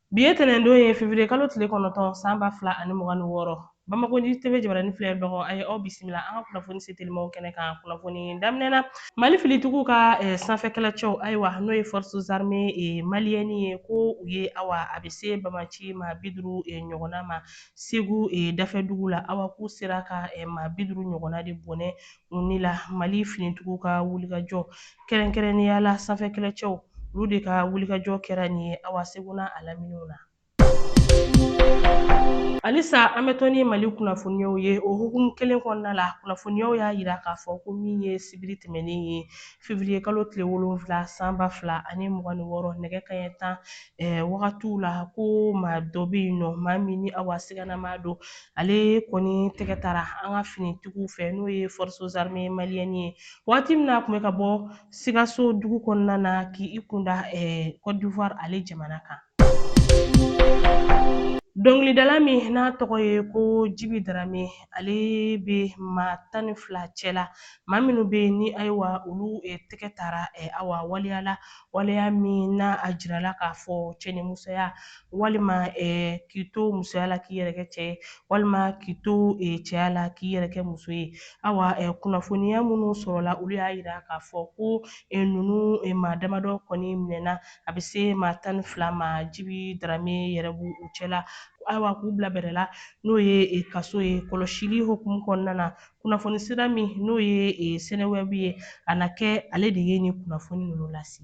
Bi ye tɛnɛndon ye fevriye kalo tile kɔnɔntɔn san ba fila ani mugan ni wɔɔrɔ Bamako News TV jabaranin filɛbagaw a ye aw bisimila an ka kunnafoni se telimaw kɛnɛ kan kunnafoni daminɛna Mali finitigiw ka eh, sanfɛ kɛlɛcɛw ayiwa n'o ye forces armées eh, maliennes ye ko u ye awa a bɛ se banbaanci maa bi duuru eh, ɲɔgɔnna ma Segu eh, dafɛdugu la awa k'u sera ka eh, maa bi duuru ɲɔgɔnna de bɔnɛ ni la mali finitigiw ka wulikajɔ kɛrɛnkɛrɛnnenya la sanfɛ kɛlɛcɛw olu de ka wulikajɔ kɛra nin ye awa segu n'a laminiw na halisa an bɛ to ni mali kunnafoniyaw ye o hukumu kelen kɔnɔna la kunnafoniyaw y'a jira k'a fɔ ko min ye sibiri tɛmɛnen ye fevriye kalo tile wolonfila san ba fila ani mugan ni wɔɔrɔ nɛgɛ kanɲɛ tan wagatiw la ko maa dɔ bɛ yen nɔ maa min ni awa siganamaa don ale kɔni tɛgɛ tara an ka finitigiw fɛ n'o ye forces armées maliennes ye waati min na a tun bɛ ka bɔ sikaso dugu kɔnɔna na k'i kunda kɔdiwari ale jamana kan dɔnkilidala min n'a tɔgɔ ye ko jibi darame ale bɛ maa tan ni fila cɛ la maa minnu bɛ yen ni ayiwa olu tɛgɛ tara awa waleya la waleya min na a jirala k'a fɔ cɛ ni musoya walima k'i to musoya la k'i yɛrɛ kɛ cɛ ye walima k'i to cɛya la k'i yɛrɛ kɛ muso ye awa kunnafoniya minnu sɔrɔla olu y'a yira k'a fɔ ko ninnu maa damadɔ kɔni minɛna a bɛ se maa tan ni fila ma jibi darame yɛrɛ b'u cɛla awa k'u bila bɛrɛ la n'o ye kaso ye kɔlɔsili hukumu kɔnɔna na Kunnafoni sira min n'o ye e, sɛnɛwɛbu ye a na kɛ ale de ye nin kunnafoni ninnu lase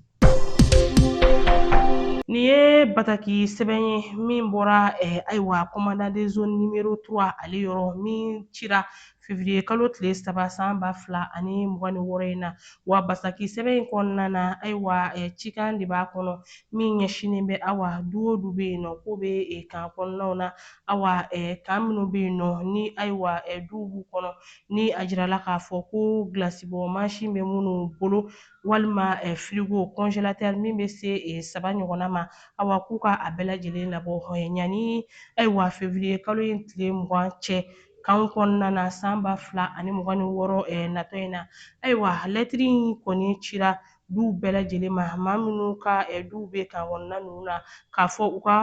nin ye bataki sɛbɛn ye min bɔra eh, ayiwa commandant de zone numéro 3 ale yɔrɔ min cira fevriye kalo tile saba san ba fila ani mugan ni wɔɔrɔ in na wa bataki sɛbɛn in kɔnɔna na ayiwa eh, cikan de b'a kɔnɔ min ɲɛsinnen bɛ awa du o du bɛ yen nɔ k'o bɛ eh, kan kɔnɔnaw na awa kan minnu bɛ yen nɔ ni ayiwa duw b'u kɔnɔ ni a jirala k'a fɔ ko gilasibɔ mansin bɛ minnu bolo walima firigo kɔnzelatɛri min bɛ se saba ɲɔgɔnna ma awa k'u ka a bɛɛ lajɛlen labɔ yanni ayiwa fevriye kalo in tile mugan cɛ kan kɔnɔna na san ba fila ani mugan ni wɔɔrɔ natɔ in na ayiwa lɛtiri in kɔni cira duw bɛɛ lajɛlen ma maa minnu ka duw bɛ kan kɔnɔna ninnu na k'a fɔ u ka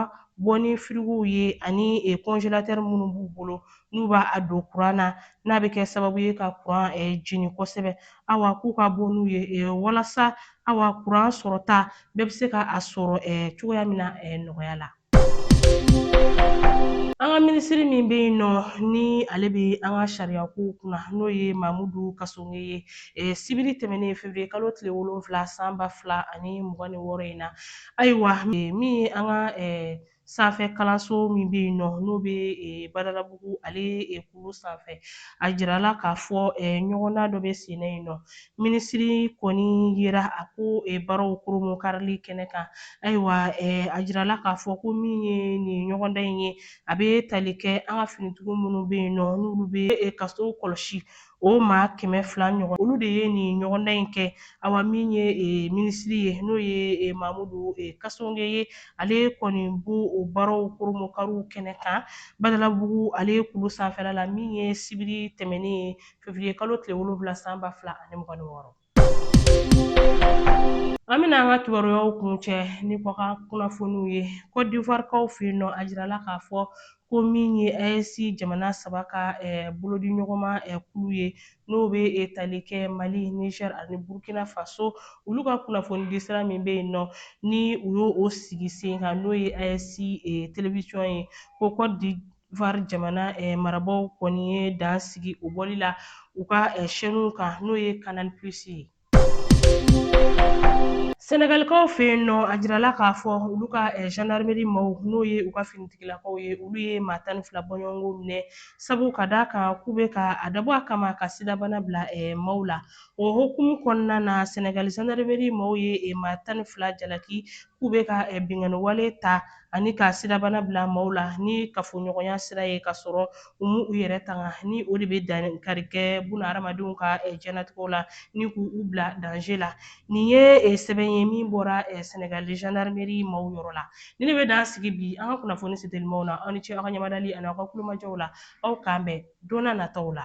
bɔ ni firigow ye ani kɔnjelatɛri minnu b'u bolo n'u b'a don kuran na n'a bɛ kɛ sababu ye ka kuran jeni kosɛbɛ awa k'u ka bɔ n'u ye walasa awa kuran sɔrɔta bɛɛ bɛ se ka a sɔrɔ cogoya min na nɔgɔya la An ka minisiri min bɛ yen nɔ ni ale bɛ an ka sariya kow kunna n'o ye Mamudu Kasonge ye eh, sibiri tɛmɛnen fevriye kalo tile wolonwula san ba fila ani mugan ni wɔɔrɔ in na ayiwa eh, min ye an ka eh, sanfɛ kalanso min bɛ yen nɔ n'o bɛ eh, Badalabugu ale eh, kulu sanfɛ a jirala k'a fɔ eh, ɲɔgɔndan dɔ bɛ sen na yen nɔ minisiri kɔni yera a ko baaraw koromokarili kɛnɛ kan ayiwa a jirala k'a fɔ ko min ye nin ɲɔgɔndan in ye a bɛ tali kɛ an ka finitigiw minnu bɛ yen nɔ n'olu bɛ kaso kɔlɔsi o maa kɛmɛ fila ɲɔgɔn olu de ye nin ɲɔgɔndan in kɛ awa min ye minisiri ye n'o ye mamudu kasonge ye ale kɔni b'o baaraw koromokariw kɛnɛ kan badalabugu ale kulu sanfɛla la min ye sibiri tɛmɛnen ye fevriye kalo tile wolonwula san ba fila ani mugan ni wɔɔrɔ an bɛna an ka kibaruyaw kuncɛ ni kɔkan kunnafoniw ye kɔdivarikaw fɛ yen nɔ a jirala k'a fɔ ko min ye ayesi jamana saba ka eh, bolodiɲɔgɔnma eh, kulu ye n'o bɛ eh, tali kɛ mali niger ani burkina faso olu ka kunnafonidi sira min bɛ yen nɔ ni u y'o sigi sen kan n'o ye ayesi televisiyɔn ye ko kɔdi var jamana eh, marabaaw kɔni ye dan sigi o bɔli la u ka eh, shɛniw kan n'o ye canal plus ye sɛnɛgalikaw fɛ yen nɔ a jirala k'a fɔ olu ka eh, gendarmerie maaw n'o ye u ka finitigilakaw ye olu ye maa tan ni fila bɔɲɔgɔnko minɛ sabu ka d'a kan k'u bɛ ka a dabɔ a kama ka sidabana bila eh, maaw la o hukumu kɔnɔna na sɛnɛgali gendarmerie maaw ye eh, maa tan ni fila jalaki k'u bɛ ka binkanni wale ta ani ka sidabana bila maaw la ni kafoɲɔgɔnya sira ye ka sɔrɔ u m'u yɛrɛ tanga ni o de bɛ dankari kɛ bunahadamadenw ka diɲɛnatigɛw la ni k'u bila danze la nin ye sɛbɛn ye min bɔra sɛnɛgali zandarimeri maaw yɔrɔ la ni ne bɛ dan sigi bi an ka kunnafoni setelimaw na aw ni ce aw ka ɲamadali ani aw ka tulomajɔw la aw k'an bɛn donna nataw la